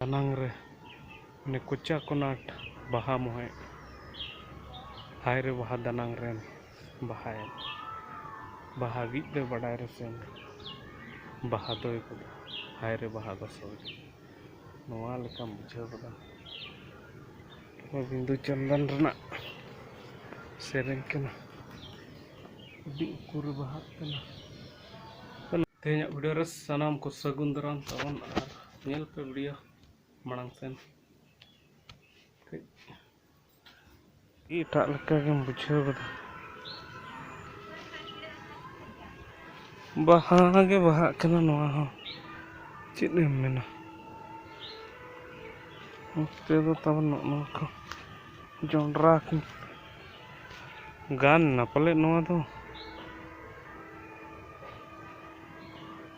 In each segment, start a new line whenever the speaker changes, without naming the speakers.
ᱫᱟᱱᱟᱝ ᱨᱮ ᱩᱱᱤ ᱠᱚᱪᱟ ᱠᱚᱱᱟᱴ ᱵᱟᱦᱟ ᱢᱚᱦᱮᱜ ᱦᱟᱭ ᱨᱮ ᱵᱟᱦᱟ ᱫᱟᱱᱟᱝ ᱨᱮᱱ ᱵᱟᱦᱟ ᱮᱱ ᱵᱟᱦᱟ ᱵᱤᱫ ᱫᱚᱭ ᱵᱟᱰᱟᱭ ᱨᱮᱥᱮ ᱵᱟᱦᱟ ᱫᱚᱭ ᱜᱚᱫᱟ ᱦᱟᱭ ᱨᱮ ᱵᱟᱦᱟ ᱜᱚᱥᱚᱭ ᱫᱚ ᱱᱚᱣᱟ ᱞᱮᱠᱟᱢ ᱵᱩᱡᱷᱟᱹᱣ ᱜᱚᱫᱟ ᱱᱚᱣᱟ ᱵᱤᱸᱫᱩ ᱪᱟᱸᱫᱟᱱ ᱨᱮᱱᱟᱜ ᱥᱮᱨᱮᱧ ᱠᱟᱱᱟ ᱟᱹᱰᱤ ᱩᱠᱩᱨ ᱵᱟᱦᱟᱜ ᱠᱟᱱᱟ ᱛᱮᱦᱮᱧᱟᱜ ᱵᱷᱤᱰᱤᱭᱳ ᱨᱮ ᱥᱟᱱᱟᱢ ᱠᱚ ᱥᱟᱹᱜᱩᱱ ᱫᱟᱨᱟᱢ ᱛᱟᱵᱚᱱ ᱟᱨ ᱧᱮᱞ ᱯᱮ ᱵᱷᱤᱰᱤᱭᱳ ᱢᱟᱲᱟᱝ ᱥᱮᱱ ᱠᱟᱹᱡ ᱮᱴᱟᱜ ᱞᱮᱠᱟ ᱜᱮᱢ ᱵᱩᱡᱷᱟᱹᱣ ᱜᱚᱫᱟ ᱵᱟᱦᱟ ᱜᱮ ᱵᱟᱦᱟᱜ ᱠᱟᱱᱟ ᱱᱚᱣᱟ ᱦᱚᱸ ᱪᱮᱫ ᱮᱢ ᱢᱮᱱᱟ ᱱᱚᱛᱮ ᱫᱚ ᱛᱟᱵᱚ ᱱᱚᱜᱼᱚ ᱱᱚᱝᱠᱟ ᱡᱚᱱᱰᱨᱟ ᱠᱤᱱ ᱜᱟᱱ ᱱᱟ ᱯᱟᱞᱮᱫ ᱱᱚᱣᱟ ᱫᱚ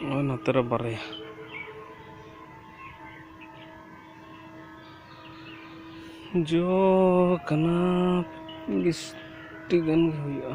ᱱᱚᱜᱼᱚᱭ ᱱᱚᱛᱮ ᱨᱮ ᱵᱟᱨᱭᱟ ᱡᱚ ᱠᱟᱱᱟ ᱵᱤᱥᱴᱤ ᱜᱟᱱ ᱜᱮ ᱦᱩᱭᱩᱜᱼᱟ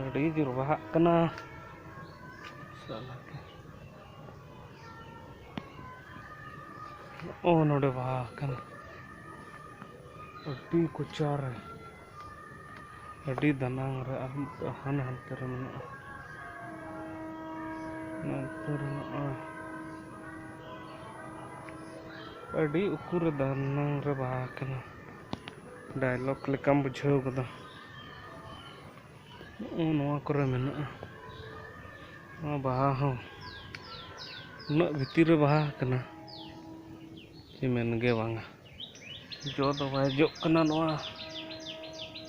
ᱟᱹᱰᱤ ᱡᱳᱨ ᱵᱟᱦᱟᱜ ᱠᱟᱱᱟ ᱚ ᱱᱚᱰᱮ ᱵᱟᱦᱟ ᱟᱠᱟᱱᱟ ᱟᱹᱰᱤ ᱠᱚᱪᱟ ᱨᱮ ᱟᱹᱰᱤ ᱫᱟᱱᱟᱝ ᱨᱮ ᱟᱨ ᱢᱤᱫ ᱴᱮᱡ ᱦᱟᱱᱮ ᱦᱟᱱᱛᱮ ᱨᱮ ᱢᱮᱱᱟᱜᱼᱟ ᱱᱚᱛᱮ ᱨᱮ ᱱᱚᱜᱼᱚᱭ ᱟᱹᱰᱤ ᱩᱠᱩᱨ ᱨᱮ ᱫᱟᱱᱟᱝ ᱨᱮ ᱵᱟᱦᱟ ᱠᱟᱱᱟ ᱰᱟᱭᱞᱚᱜᱽ ᱞᱮᱠᱟᱢ ᱵᱩᱡᱷᱟᱹᱣ ᱜᱚᱫᱟ ᱱᱚᱜᱼᱚ ᱱᱚᱣᱟ ᱠᱚᱨᱮ ᱢᱮᱱᱟᱜᱼᱟ ᱱᱚᱣᱟ ᱵᱟᱦᱟ ᱦᱚᱸ ᱩᱱᱟᱹᱜ ᱵᱷᱤᱛᱤᱨ ᱨᱮ ᱵᱟᱦᱟ ᱠᱟᱱᱟ ᱡᱮ ᱢᱮᱱ ᱜᱮ ᱵᱟᱝᱟ ᱡᱚ ᱫᱚ ᱵᱟᱭ ᱡᱚᱜ ᱠᱟᱱᱟ ᱱᱚᱣᱟ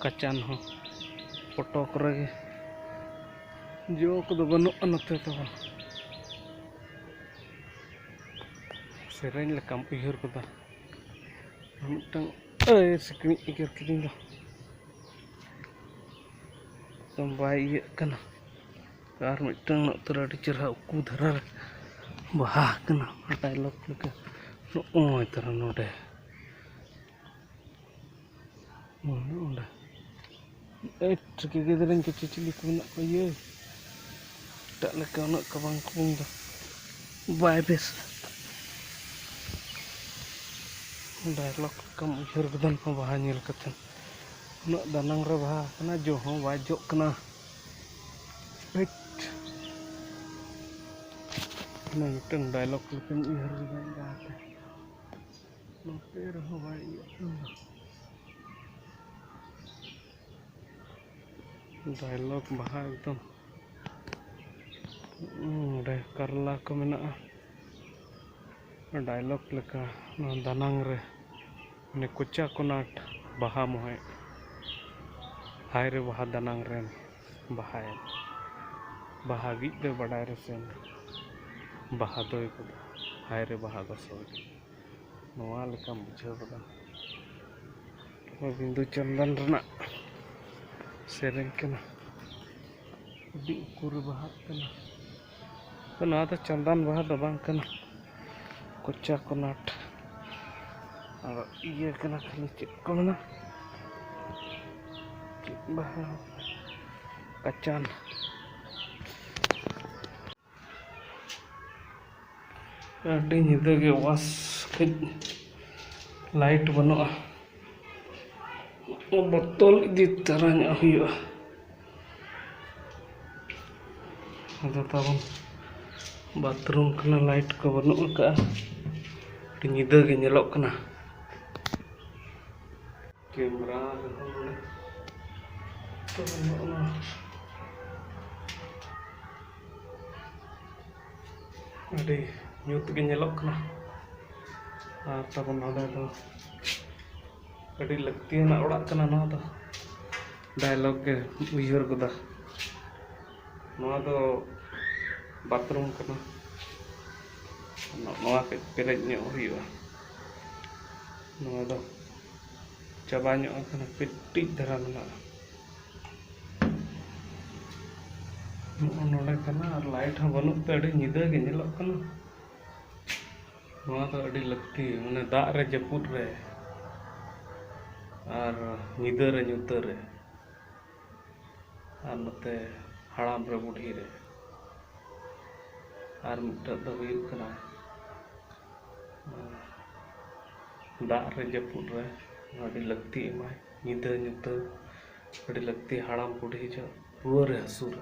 ᱠᱟᱪᱟᱱ ᱦᱚᱸ ᱯᱚᱴᱚ ᱠᱚᱨᱮ ᱜᱮ ᱡᱚ ᱠᱚᱫᱚ ᱵᱟᱹᱱᱩᱜᱼᱟ ᱱᱚᱛᱮ ᱫᱚ ᱥᱮᱨᱮᱧ ᱞᱮᱠᱟᱢ ᱩᱭᱦᱟᱹᱨ ᱜᱚᱫᱟ ᱢᱤᱫᱴᱟᱝ ᱟᱹᱭ ᱥᱤᱠᱲᱤᱡ ᱜᱮᱜᱮᱨ ᱠᱤᱫᱤᱧ ᱫᱚ ᱮᱠᱫᱚᱢ ᱵᱟᱭ ᱤᱭᱟᱹᱜ ᱠᱟᱱᱟ ᱟᱨ ᱢᱤᱫᱴᱟᱹᱝ ᱱᱚᱛᱮ ᱨᱮ ᱟᱹᱰᱤ ᱪᱮᱨᱦᱟ ᱩᱠᱩ ᱫᱷᱟᱨᱟ ᱨᱮ ᱵᱟᱦᱟ ᱟᱠᱟᱱᱟ ᱚᱱᱟ ᱰᱟᱭᱞᱚᱜᱽ ᱞᱮᱠᱟ ᱱᱚᱜᱼᱚᱭ ᱛᱚᱨᱟ ᱱᱚᱸᱰᱮ ᱱᱚᱜᱼᱚᱭ ᱚᱸᱰᱮ ᱮᱠ ᱴᱷᱤᱠᱟᱹ ᱠᱮᱫᱟ ᱞᱤᱧ ᱠᱤᱪᱷᱩ ᱪᱤᱞᱤ ᱠᱚ ᱢᱮᱱᱟᱜ ᱠᱚᱣᱟ ᱤᱭᱟᱹ ᱮᱴᱟᱜ ᱞᱮᱠᱟ ᱩᱱᱟᱹᱜ ᱠᱚ ᱵᱟᱝ ᱠᱚ ᱤᱧ ᱫᱚ ᱵᱟᱭ ᱵᱮᱥ ᱰᱟᱭᱞᱚᱜᱽ ᱞᱮᱠᱟᱢ ᱩᱭᱦᱟᱹᱨ ᱜᱚᱫᱟ ᱱᱚᱣᱟ ᱵᱟᱦᱟ ᱧᱮᱞ ᱠᱟᱛᱮᱫ ᱩᱱᱟᱹᱜ ᱫᱟᱱᱟᱝ ᱨᱮ ᱵᱟᱦᱟ ᱟᱠᱟᱱᱟ ᱡᱚ ᱦᱚᱸ ᱵᱟᱭ ᱡᱚᱜ ᱠᱟᱱᱟ ᱚᱱᱟ ᱢᱤᱫᱴᱟᱹᱝ ᱰᱟᱭᱞᱚᱜᱽ ᱞᱮᱠᱟᱧ ᱩᱭᱦᱟᱹᱨ ᱞᱮᱫᱟ ᱡᱟᱦᱟᱸᱛᱮ ᱱᱚᱛᱮ ᱨᱮᱦᱚᱸ ᱵᱟᱭ ᱤᱭᱟᱹᱜ ᱠᱟᱱ ᱫᱚ ᱰᱟᱭᱞᱚᱜᱽ ᱵᱟᱦᱟ ᱮᱠᱫᱚᱢ ᱱᱚᱰᱮ ᱠᱟᱨᱞᱟ ᱠᱚ ᱢᱮᱱᱟᱜᱼᱟ ᱰᱟᱭᱞᱚᱜᱽ ᱞᱮᱠᱟ ᱱᱚᱣᱟ ᱫᱟᱱᱟᱝ ᱨᱮ ᱩᱱᱤ ᱠᱚᱪᱟ ᱠᱚᱱᱟᱴ ᱵᱟᱦᱟ ᱢᱚᱦᱮᱫ ᱦᱟᱭ ᱨᱮ ᱵᱟᱦᱟ ᱫᱟᱱᱟᱝ ᱨᱮᱱ ᱵᱟᱦᱟ ᱮᱱ ᱵᱟᱦᱟ ᱜᱮᱡ ᱫᱚᱭ ᱵᱟᱰᱟᱭ ᱨᱮᱥᱮᱱ ᱵᱟᱦᱟ ᱫᱚᱭ ᱜᱚᱫᱟ ᱦᱟᱭ ᱨᱮ ᱵᱟᱦᱟ ᱜᱚᱥᱚ ᱜᱮ ᱱᱚᱣᱟ ᱞᱮᱠᱟᱢ ᱵᱩᱡᱷᱟᱹᱣ ᱜᱚᱫᱟ ᱱᱚᱣᱟ ᱵᱤᱸᱫᱩ ᱪᱟᱸᱫᱟᱱ ᱨᱮᱱᱟᱜ ᱥᱮᱨᱮᱧ ᱠᱟᱱᱟ ᱟᱹᱰᱤ ᱩᱠᱩᱨᱮ ᱵᱟᱦᱟᱜ ᱠᱟᱱᱟ ᱛᱚ ᱱᱚᱣᱟ ᱫᱚ ᱪᱚᱱᱫᱚᱱ ᱵᱟᱦᱟ ᱫᱚ ᱵᱟᱝ ᱠᱟᱱᱟ ᱠᱚᱪᱟ ᱠᱚᱱᱟᱴ ᱟᱨ ᱤᱭᱟᱹ ᱠᱟᱱᱟ ᱠᱷᱟᱹᱞᱤ ᱪᱮᱫ ᱠᱚ ᱢᱮᱱᱟ ᱪᱮᱫ ᱵᱟᱦᱟ ᱠᱟᱪᱟᱱ ᱟᱹᱰᱤ ᱧᱤᱫᱟᱹ ᱜᱮ ᱚᱣᱟᱥ ᱠᱟᱹᱡ ᱞᱟᱭᱤᱴ ᱵᱟᱹᱱᱩᱜᱼᱟ ᱵᱚᱛᱚᱞ ᱤᱫᱤ ᱛᱟᱨᱟ ᱧᱚᱜ ᱦᱩᱭᱩᱜᱼᱟ ᱟᱫᱚ ᱛᱟᱵᱚᱱ ᱵᱟᱛᱷᱨᱩᱢ ᱠᱟᱱᱟ ᱞᱟᱭᱤᱴ ᱠᱚ ᱵᱟᱹᱱᱩᱜ ᱟᱠᱟᱜᱼᱟ ᱟᱹᱰᱤ ᱧᱤᱫᱟᱹ ᱜᱮ ᱧᱮᱞᱚᱜ ᱠᱟᱱᱟ ᱠᱮᱢᱨᱟ ᱨᱮᱦᱚᱸ ᱱᱚᱰᱮ ᱛᱚ ᱵᱟᱹᱱᱩᱜ ᱟᱱᱟ ᱟᱹᱰᱤ ᱧᱩᱛ ᱜᱮ ᱧᱮᱞᱚᱜ ᱠᱟᱱᱟ ᱟᱨ ᱛᱟᱵᱚᱱ ᱱᱚᱰᱮ ᱫᱚ ᱟᱹᱰᱤ ᱞᱟᱹᱠᱛᱤᱭᱟᱱᱟᱜ ᱚᱲᱟᱜ ᱠᱟᱱᱟ ᱱᱚᱣᱟ ᱫᱚ ᱰᱟᱭᱞᱚᱜᱽ ᱜᱮ ᱩᱭᱦᱟᱹᱨ ᱜᱚᱫᱟ ᱱᱚᱣᱟ ᱫᱚ ᱵᱟᱛᱷᱨᱩᱢ ᱠᱟᱱᱟ ᱱᱚᱣᱟ ᱠᱟᱹᱡ ᱯᱮᱨᱮᱡ ᱧᱚᱜ ᱦᱩᱭᱩᱜᱼᱟ ᱱᱚᱣᱟ ᱫᱚ ᱪᱟᱵᱟ ᱧᱚᱜ ᱟᱠᱟᱱᱟ ᱠᱟᱹᱴᱤᱡ ᱫᱷᱟᱨᱟ ᱢᱮᱱᱟᱜᱼᱟ ᱱᱚᱜᱼᱚ ᱱᱚᱰᱮ ᱠᱟᱱᱟ ᱟᱨ ᱞᱟᱭᱤᱴ ᱦᱚᱸ ᱵᱟᱹᱱᱩᱜ ᱛᱮ ᱟᱹᱰᱤ ᱧᱤᱫᱟᱹ ᱜᱮ ᱧᱮᱞᱚᱜ ᱠᱟᱱᱟ ᱱᱚᱣᱟ ᱫᱚ ᱟᱹᱰᱤ ᱞᱟᱹᱠᱛᱤ ᱢᱟᱱᱮ ᱫᱟᱜ ᱨᱮ ᱡᱟᱹᱯᱩᱫ ᱨᱮ ᱟᱨ ᱧᱤᱫᱟᱹ ᱨᱮ ᱧᱩᱛᱟᱹ ᱨᱮ ᱟᱨ ᱱᱚᱛᱮ ᱦᱟᱲᱟᱢ ᱨᱮ ᱵᱩᱰᱷᱤ ᱨᱮ ᱟᱨ ᱢᱤᱫᱴᱮᱱ ᱫᱚ ᱦᱩᱭᱩᱜ ᱠᱟᱱᱟ ᱫᱟᱜ ᱨᱮ ᱡᱟᱹᱯᱩᱫ ᱨᱮ ᱟᱹᱰᱤ ᱞᱟᱹᱠᱛᱤ ᱮᱢᱟᱭ ᱧᱤᱫᱟᱹ ᱧᱩᱛᱟᱹ ᱟᱹᱰᱤ ᱞᱟᱹᱠᱛᱤ ᱦᱟᱲᱟᱢ ᱵᱩᱰᱷᱤ ᱡᱚᱦᱚᱜ ᱨᱩᱣᱟᱹ ᱨᱮ ᱦᱟᱹᱥᱩ ᱨᱮ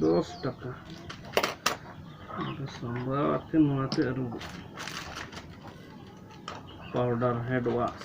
ᱫᱚᱥ ᱴᱟᱠᱟ ᱥᱟᱢᱵᱟᱣ ᱟᱛᱮ ᱱᱚᱣᱟᱛᱮ ᱟᱹᱨᱩᱵ ᱯᱟᱣᱰᱟᱨ ᱦᱮᱰ ᱣᱟᱥ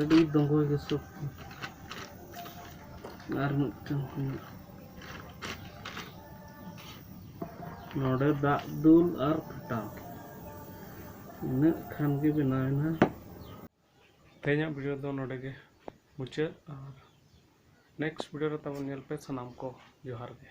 ᱟᱹᱰᱤ ᱫᱚᱸᱜᱚ ᱜᱮ ᱥᱚᱠ ᱟᱨ ᱢᱤᱫᱴᱟᱝ ᱦᱩᱭᱩᱜ ᱱᱚᱰᱮ ᱫᱟᱜ ᱫᱩᱞ ᱟᱨ ᱯᱷᱟᱴᱟᱣ ᱤᱱᱟᱹᱜ ᱠᱷᱟᱱ ᱜᱮ ᱵᱮᱱᱟᱣᱮᱱᱟ ᱛᱮᱦᱮᱧᱟᱜ ᱵᱷᱤᱰᱤᱭᱳ ᱫᱚ ᱱᱚᱰᱮ ᱜᱮ ᱢᱩᱪᱟᱹᱫ ᱟᱨ ᱱᱮᱠᱥᱴ ᱵᱷᱤᱰᱤᱭᱳ ᱨᱮ ᱛᱟᱵᱚᱱ ᱧᱮᱞ ᱯᱮ ᱥᱟᱱᱟᱢ ᱠᱚ ᱡᱚᱦᱟᱨ ᱜᱮ